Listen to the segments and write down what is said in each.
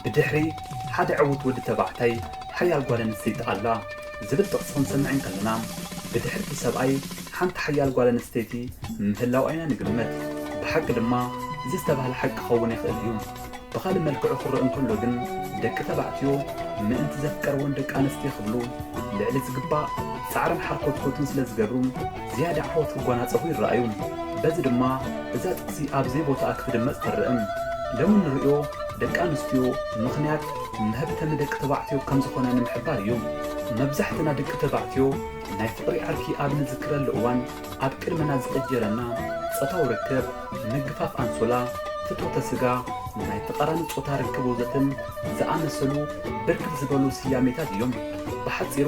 ብድሕሪ ሓደ ዕዉት ወዲ ተባዕታይ ሓያል ጓል ኣንስተይቲ ኣላ ዝብል ጥቕሲ ክንሰምዕ እንከለና፣ ብድሕሪ እቲ ሰብኣይ ሓንቲ ሓያል ጓል ኣንስተይቲ ምህላዋ ኢና ንግምት። ብሓቂ ድማ እዚ ዝተባህለ ሓቂ ክኸውን ይኽእል እዩ። ብኻልእ መልክዑ ክረእ እንከሎ ግን ደቂ ተባዕትዮ ምእንቲ ዘፍቀርወን ደቂ ኣንስትዮ ክብሉ ልዕሊ ዝግባእ ጻዕርን ሓርኮትኮትን ስለ ዝገብሩ ዝያዳ ዓወት ክጓናጸፉ ይረኣዩ። በዚ ድማ እዛ ጥቅሲ ኣብ ዘይቦታኣ ክትድመጽ ትረእም። ሎሚ እንርእዮ ደቂ ኣንስትዮ ምኽንያት መህብተሚ ደቂ ተባዕትዮ ከም ዝኾነ ንምሕባር እዩ። መብዛሕትና ደቂ ተባዕትዮ ናይ ፍቅሪ ዓርኪ ኣብ ንዝክረሉ እዋን ኣብ ቅድመና ዝቅጀለና ጾታዊ ርክብ፣ ምግፋፍ ኣንሶላ፣ ፍትወተ ስጋ፣ ንናይ ተቓራኒ ጾታ ርክብ ወዘተን ዝኣመሰሉ ብርክት ዝበሉ ስያሜታት እዮም። ብሓጺሩ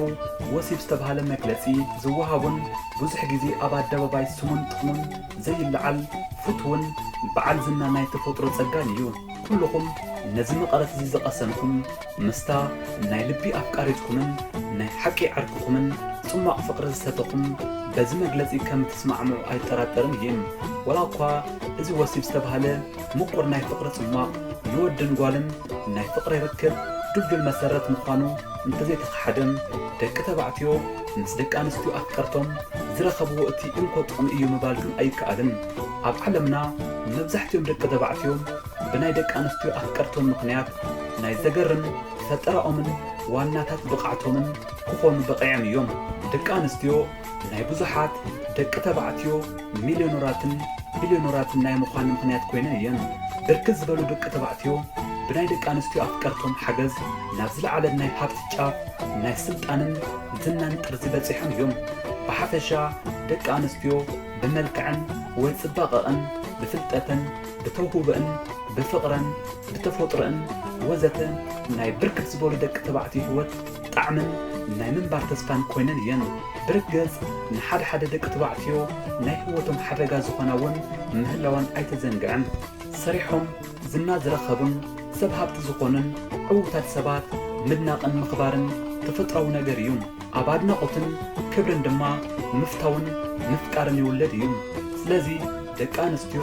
ወሲብ ዝተብሃለ መግለጺ ዝወሃቦን ብዙሕ ግዜ ኣብ ኣደባባይ ስሙን ጥቕሙን ዘይለዓል ፍትውን በዓል ዝና ናይ ተፈጥሮ ጸጋን እዩ። ኩሉኹም ነዚ መቐረት'ዚ ዝቐሰንኩም፣ ምስታ ናይ ልቢ ኣፍቃሪትኩምን ናይ ሓቂ ዓርክኹምን ጽሟቕ ፍቕሪ ዝሰተኹም በዚ መግለጺ ከም እትስማዕምዑ ኣይጠራጠርን እየ። ወላ እኳ እዚ ወሲብ ዝተባህለ ምቑር ናይ ፍቕሪ ጽሟቕ ንወድን ጓልን ናይ ፍቕሪ ርክብ ድልዱል መሰረት ምዃኑ እንተዘይተኸሓደ፣ ደቂ ተባዕትዮ ምስ ደቂ ኣንስትዮ ኣፍቀርቶም ዝረኸብዎ እቲ እንኮ ጥቕሚ እዩ ምባል ግን ኣይከኣልን። ኣብ ዓለምና መብዛሕትኦም ደቂ ተባዕትዮ፣ ብናይ ደቂ ኣንስትዮ ኣፍቀርቶም ምኽንያት ናይ ዘገርም ፈጠራኦምን ዋናታት ብቕዓቶምን ክኾኑ በቒዕም እዮም። ደቂ ኣንስትዮ ናይ ብዙሓት ደቂ ተባዕትዮ ሚልዮነራትን ቢልዮነራትን ናይ ምዃን ምኽንያት ኮይነን እየን። ብርክት ዝበሉ ደቂ ተባዕትዮ ብናይ ደቂ ኣንስትዮ ኣፍቀርቶም ሓገዝ ናብ ዝለዓለ ናይ ሃብቲ ጫፍ፣ ናይ ስልጣንን ዝናን ጥርዚ በጺሖም እዮም። ብሓፈሻ ደቂ ኣንስትዮ ብመልክዐን ወይ ጽባቐኣን፣ ብፍልጠተን፣ ብተውህቦኣን ብፍቕረን ብተፈጥሮኣን ወዘተ ናይ ብርክት ዝበሉ ደቂ ተባዕትዮ ህይወት ጣዕምን ናይ ምንባር ተስፋን ኮይነን እየን። ብርግጽ ንሓደ ሓደ ደቂ ተባዕትዮ ናይ ህይወቶም ሓደጋ ዝኾና እውን ምህላወን ኣይተዘንግዕን። ሰሪሖም ዝና ዝረኸቡን ሰብ ሃብቲ ዝኾኑን ዕውታት ሰባት ምድናቕን ምኽባርን ተፈጥሮኣዊ ነገር እዩ። ኣብ ኣድናቆትን ክብርን ድማ ምፍታውን ምፍቃርን ይውለድ እዩ። ስለዚ ደቂ ኣንስትዮ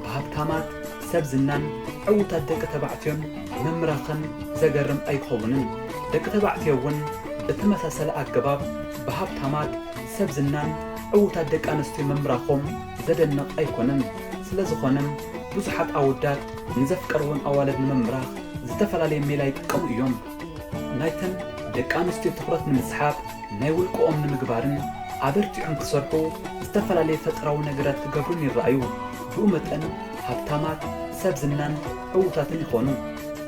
ብሃብታማት፣ ሰብ ዝናን ዕውታት ደቂ ተባዕትዮን ምምራኸን ዘገርም ኣይኸውንን። ደቂ ተባዕትዮ እውን ብተመሳሳሊ ኣገባብ ብሃብታማት፣ ሰብ ዝናን ዕውታት ደቂ ኣንስትዮ ምምራኾም ዘደንቕ ኣይኮነን። ስለዝኾነም ብዙሓት ኣወዳት ንዘፍቀርወን ኣዋልድ ንምምራኽ ዝተፈላለየ ሜላ ይጥቀሙ እዮም። ናይተን ደቂ ኣንስትዮ ትኹረት ንምስሓብ ናይ ውልቀኦም ንምግባርን ኣበርቲዖም ክሰርሑ ዝተፈላለየ ፈጠራዊ ነገራት ክገብሩን ይረኣዩ። ብኡ መጠን ሃብታማት፣ ሰብ ዝናን ዕዉታትን ይኾኑ።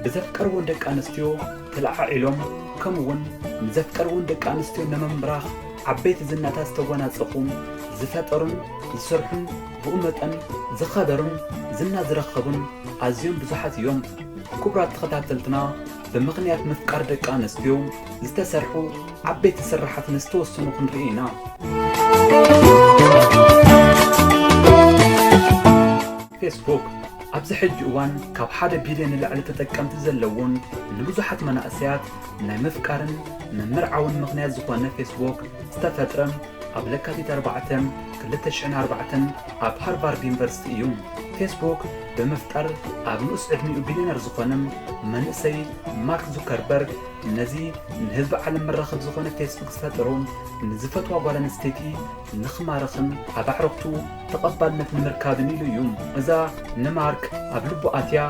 ብዘፍቀርዎን ደቂ ኣንስትዮ ተለዓዒሎም ከምኡ'ውን ንዘፍቀርዎን ደቂ ኣንስትዮ ነመምብራኽ ዓበይቲ ዝናታት ዝተጎናጸፉን ዝፈጠሩን ዝሰርሑን ብኡ መጠን ዝኸበሩን ዝና ዝረከቡን ኣዝዮም ብዙሓት እዮም። ክቡራት ተኸታተልትና ብምኽንያት ምፍቃር ደቂ ኣንስትዮ ዝተሰርሑ ዓበይቲ ስራሓት ንዝተወሰኑ ክንርኢ ኢና። ፌስቡክ ኣብዚ ሕጂ እዋን ካብ ሓደ ቢልዮን ንላዕሊ ተጠቀምቲ ዘለዎን ንብዙሓት መናእሰያት ናይ ምፍቃርን ምምርዓውን ምኽንያት ዝኾነ ፌስቡክ ዝተፈጥረ ኣብ ለካቲት 4 2004 ኣብ ሃርቫርድ ዩኒቨርሲቲ እዩ። ፌስቡክ ብምፍጣር ኣብ ንኡስ ዕድሚኡ ቢልዮነር ዝኾነ መንእሰይ ማርክ ዙከርበርግ ነዚ ንህዝቢ ዓለም መራኸቢ ዝኾነ ፌስቡክ ዝፈጠሩ ንዝፈትዋ ጓል ኣንስተይቲ ንኽማርኽን ኣብ ኣዕሩኽቱ ተቐባልነት ንምርካብን ኢሉ እዩ። እዛ ንማርክ ኣብ ልቡ ኣትያ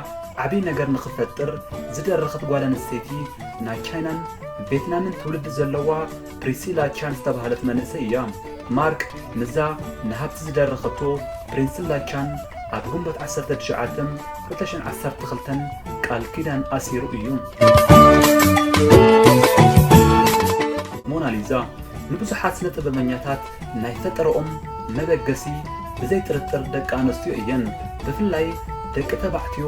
ዓብዪ ነገር ንኽፈጥር ዝደረኸት ጓል ኣንስተይቲ ናይ ቻይናን ቬትናምን ትውልዲ ዘለዋ ፕሪሲላ ቻን ዝተባህለት መንእሰይ እያ። ማርክ ምስዛ ንሃብቲ ዝደረኸቶ ፕሪንሲላ ቻን ኣብ ግንቦት ዓሰርተ ትሽዓተ ክልተ ሽሕን ዓሰርተ ክልተን ቃል ኪዳን ኣሲሩ እዩ። ሞናሊዛ ንብዙሓት ስነ ጥበበኛታት ናይ ፈጠረኦም መበገሲ ብዘይ ጥርጥር ደቂ ኣንስትዮ እየን። ብፍላይ ደቂ ተባዕትዮ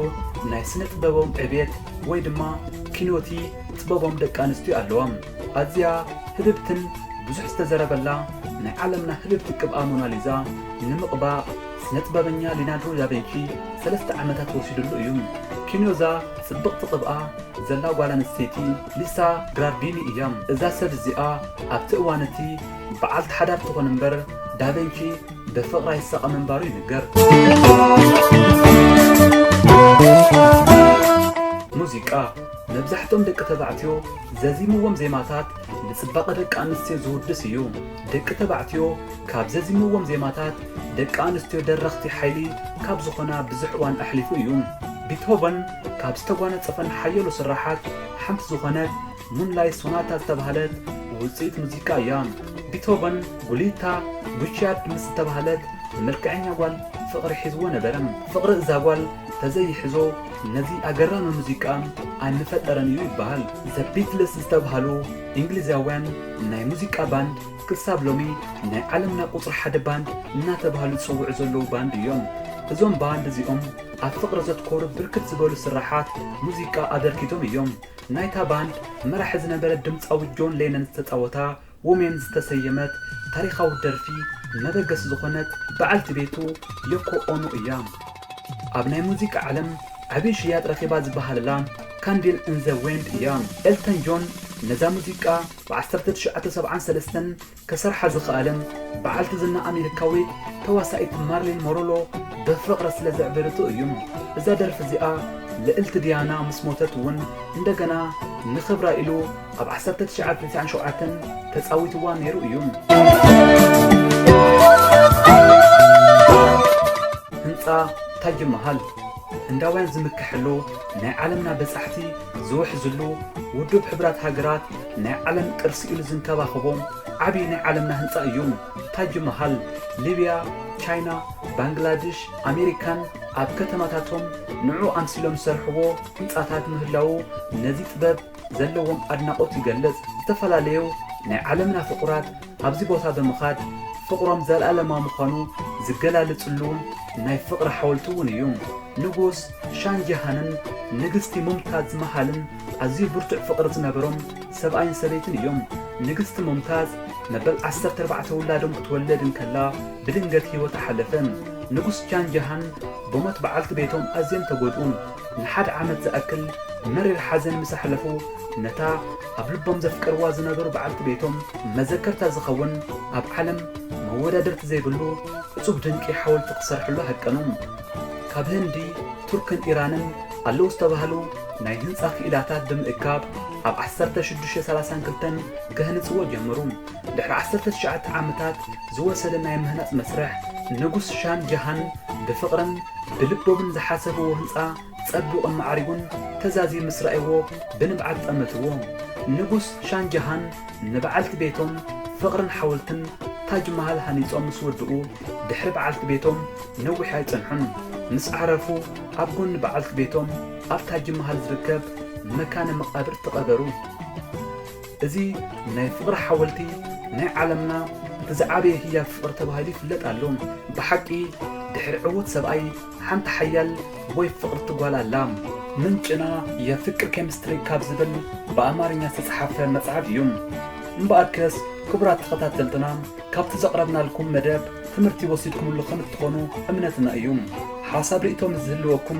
ናይ ስነ ጥበቦም ዕብየት ወይ ድማ ኪኖቲ ጥበቦም ደቂ ኣንስትዮ ኣለዋ። ኣዝያ ህብብትን ብዙሕ ዝተዘረበላ ናይ ዓለምና ህብብቲ ቅብኣ ሞናሊዛ ንምቕባእ ስነጥበበኛ ሊናድሮ ዳቬንቺ ሰለስተ ዓመታት ወሲድሉ እዩ። ኪንዮ'ዛ ጽብቕቲ ቅብኣ ዘላ ጓል ኣንስተይቲ ሊሳ ግራርዲኒ እያ። እዛ ሰብ እዚኣ ኣብቲ እዋን'ቲ በዓልቲ ሓዳር ትኹን እምበር ዳቬንቺ ብፍቕራ ይሳቐ ምንባሩ ይንገር። ሙዚቃ። መብዛሕትኦም ደቂ ተባዕትዮ ዘዚምዎም ዜማታት ንጽባቐ ደቂ ኣንስትዮ ዝውድስ እዩ። ደቂ ተባዕትዮ ካብ ዘዚምዎም ዜማታት ደቂ ኣንስትዮ ደረኽቲ ሓይሊ ካብ ዝኾና ብዙሕ እዋን ኣሕሊፉ እዩ። ቢትሆቨን ካብ ዝተጓነጸፈን ሓየሎ ስርሓት ሓንቲ ዝኾነት ሙንላይት ሶናታ ዝተባህለት ውጽኢት ሙዚቃ እያ። ቢትሆቨን ጉሊታ ጉቺያርድ ምስ ዝተባህለት መልክዐኛ ጓል ፍቕሪ ሒዝዎ ነበረ። ፍቕሪ እዛ ጓል ተዘይሕዞ፣ ነዚ ኣገራሚ ሙዚቃ ኣን ምፈጠረን እዩ ይበሃል። The Beatles ዝተብሃሉ እንግሊዛውያን ናይ ሙዚቃ ባንድ ክሳብ ሎሚ ናይ ዓለምና ቁጽሪ ሓደ ባንድ እናተብሃሉ ዝጽውዑ ዘለዉ ባንድ እዮም። እዞም ባንድ እዚኦም ኣብ ፍቕሪ ዘትኮሩ ብርክት ዝበሉ ስርሓት ሙዚቃ ኣበርኪቶም እዮም። ናይታ ባንድ መራሒ ዝነበረ ድምጻዊ ጆን ሌነን ዝተጻወታ ዎሜን ዝተሰየመት ታሪኻዊት ደርፊ መበገሲ ዝኾነት በዓልቲ ቤቱ ዮኮ ኦኖ እያ። ኣብ ናይ ሙዚቃ ዓለም ዓብዪ ሽያጥ ረኺባ ዝበሃለላ ካንድል ኢን ዘ ዌንድ እያ። ኤልተን ጆን ነዛ ሙዚቃ ብ ዓሰርተ ትሽዓተ ሰብዓን ሰለስተን ከሰርሓ ዝኸኣለ በዓልቲ ዝና ኣሜሪካዊት ተዋሳኢት ማርሊን ሞሮሎ ብፍቕሪ ስለ ዘዕበደቶ እዩ። እዛ ደርፊ እዚኣ ልእልቲ ዲያና ምስ ሞተት እውን እንደገና ንኽብራ ኢሉ ኣብ ዓሰርተ ትሽዓን ትስዓን ሸውዓተን ተጻዊትዋ ነይሩ እዩ። ህንጻ ታጅ መሃል ህንዳውያን ዝምከሐሉ ናይ ዓለምና በጻሕቲ ዝውሕዝሉ ውዱብ ሕብራት ሃገራት ናይ ዓለም ቅርሲ ኢሉ ዝንከባኸቦ ዓብዪ ናይ ዓለምና ህንጻ እዩ። ታጅ መሃል ሊብያ፣ ቻይና፣ ባንግላድሽ፣ ኣሜሪካን ኣብ ከተማታቶም ንዑ ኣምሲሎም ዝሰርሕዎ ህንጻታት ምህላዉ ነዚ ጥበብ ዘለዎም ኣድናቖት ይገልጽ፣ ዝተፈላለዩ ናይ ዓለምና ፍቑራት ኣብዚ ቦታ ብምኻድ ፍቕሮም ዘልኣለማዊ ምዃኑ ዝገላልጽሉ ናይ ፍቕሪ ሓወልቲ እውን እዩ። ንጉስ ሻን ጀሃንን ንግስቲ ሙምታዝ ማሃልን ኣዝዩ ብርቱዕ ፍቕሪ ዝነበሮም ሰብኣይን ሰበይትን እዮም። ንግስቲ ሙምታዝ መበል ዓሰርተ ኣርባዕተ ውላዶም ክትወልድ እንከላ ብድንገት ህይወታ ሓለፈ። ንጉስ ሻን ጀሃን ብሞት በዓልቲ ቤቶም ኣዝዮም ተጎድኡ። ንሓደ ዓመት ዝኣክል መሪር ሓዘን ምስ ኣሕለፉ ነታ ኣብ ልቦም ዘፍቀርዋ ዝነበሩ በዓልቲ ቤቶም መዘከርታ ዝኸውን ኣብ ዓለም መወዳድርቲ ዘይብሉ እጹብ ድንቂ ሓወልቲ ክሰርሕሉ ሃቀኑ። ካብ ህንዲ፣ ቱርክን ኢራንን ኣለዉ ዝተባህሉ ናይ ህንጻ ክኢላታት ብምእካብ ኣብ ዓሰርተ ሽዱሽተ ሰላሳን ክልተን ከህንጽዎ ጀመሩ። ድሕሪ ዓሰርተ ትሽዓተ ዓመታት ዝወሰደ ናይ ምህናጽ መስርሕ፣ ንጉስ ሻን ጃሃን ብፍቕርን ብልቦምን ዝሓሰብዎ ህንጻ ጸቢቑን ማዕሪጉን ተዛዝዩ ምስ ረኣይዎ ብንብዓት ጠመትዎ። ንጉስ ሻን ጃሃን ንበዓልቲ ቤቶም ፍቕርን ሓወልትን ታጅ ማሃል ሃኒጾም ምስ ወድኡ፣ ድሕሪ በዓልቲ ቤቶም ነዊሕ ኣይጸንሑን። ምስ ዓረፉ ኣብ ጎኒ በዓልቲ ቤቶም ኣብ ታጅ ማሃል ዝርከብ መካነ መቓብር ተቐበሩ። እዚ ናይ ፍቕሪ ሓወልቲ ናይ ዓለምና እቲ ዝዓበየ ህያብ ፍቕሪ ተባሂሉ ይፍለጥ ኣሎ። ብሓቂ ድሕሪ ዕዉት ሰብኣይ ሓንቲ ሓያል ወይ ፍቕርቲ ጓል ኣላ። ምንጭና የፍቅር ኬሚስትሪ ካብ ዝብል ብኣማርኛ ዝተጽሓፈ መጽሓፍ እዩ። እምበኣርከስ ክቡራት ተኸታተልትና ካብቲ ዘቕረብናልኩም መደብ ትምህርቲ ወሲድኩምሉ ከም እትኾኑ እምነትና እዩ። ሓሳብ ሪኢቶ ምስ ዝህልወኩም